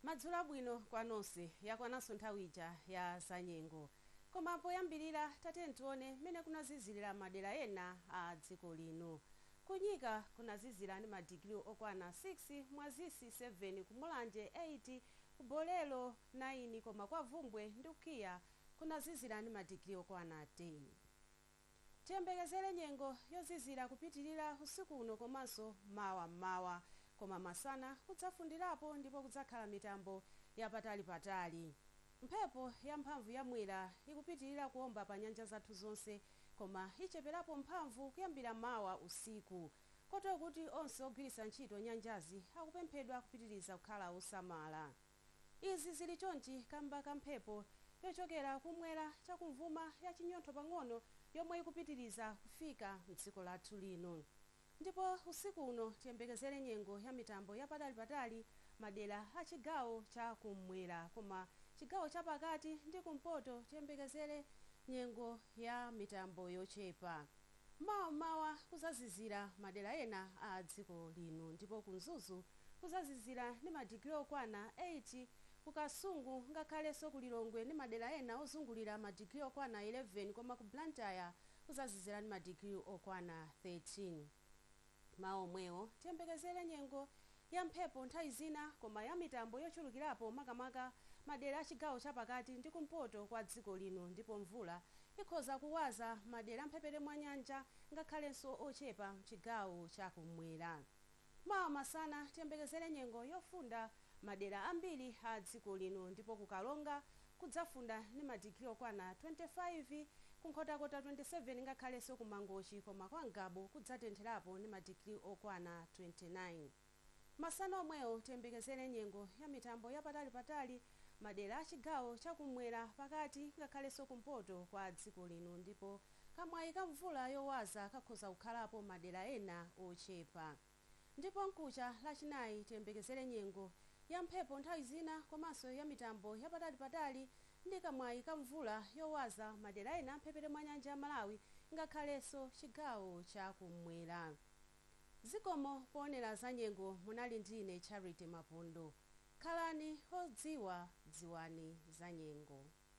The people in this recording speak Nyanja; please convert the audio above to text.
Madzulo abwino kwa nonse. Yakwananso nthawi ija ya zanyengo. Koma poyambirira tatiyeni tione mmene kunazizirira madera ena a dziko lino. Ku Nyika kunazizira ndi madigiri okwana 6, Mwazisi 7, ku Mulanje 8, ku Bolero 9 koma kwa Bvumbwe ndi Nkuya kunazizira ndi madigiri okwana 10. Tiyembekezere nyengo yozizira kupitilira usiku uno komanso mawa m'mawa koma masana kudzafundirapo ndipo kudzakhala mitambo yapatali patali. Mphepo ya mphamvu ya Mwera ikupitilira kuomba pa nyanja zathu zonse koma icheperapo mphamvu kuyambira mawa usiku kotero kuti onse ogwiritsa ntchito nyanjazi akupemphedwa kupitiliza kukhala osamala. Izi zili chonchi kamba ka mphepo yochokera kumwera chakumvuma ya chinyontho pang'ono yomwe ikupitiliza kufika mdziko lathu lino. Ndipo usiku uno tiyembekezere nyengo ya mitambo ya patali patali madera a chigawo cha kum'mwera koma chigawo cha pakati ndi kumpoto tiyembekezere nyengo ya mitambo yochepa. Mawa m'mawa kuzazizira madera ena a dziko lino ndipo ku Mzuzu kuzazizira ndi ma digiri okwana 8, ku Kasungu ngakhaleso ku Lilongwe ndi madera ena ozungulira ma digiri okwana 11 koma ku Blantyre kuzazizira ndi ma digiri okwana 13. M'mawa omwewo, tiyembekezere nyengo ya mphepo nthawi zina koma ya mitambo yochulukirapo makamaka madera a chigawo cha pakati ndi kumpoto kwa dziko lino ndipo mvula ikhoza kuwaza madera a mphepete mwa nyanja ngakhalenso ochepa m'chigawo cha kummwera. Mawa masana, tiyembekezere nyengo yofunda madera ambiri a dziko lino ndipo ku Karonga, kudzafunda ndi ma digiri okwana 25 ku Nkhotakota 27 ngakhalenso ku Mangochi koma kwa Ngabu kudzatentherapo ndi ma digiri okwana 29. Masana omwewo tiyembekezere nyengo ya mitambo ya patali patali madera a chigawo cha kummwera, pakati ngakhalenso kumpoto kwa dziko lino ndipo kamwayi ka mvula yowaza kakhoza kukhalapo madera ena ochepa. Ndipo mkucha lachinayi tiyembekezere nyengo ya mphepo nthawi zina komanso ya mitambo ya patali patali ndi kamwayi ka mvula yowaza madera ena a mphepete mwa nyanja ya Malawi ngakhalenso chigawo cha kummwera. Zikomo poonera za nyengo munali ndi ine Charity Mapondo. Khalani odziwa dziwani za nyengo.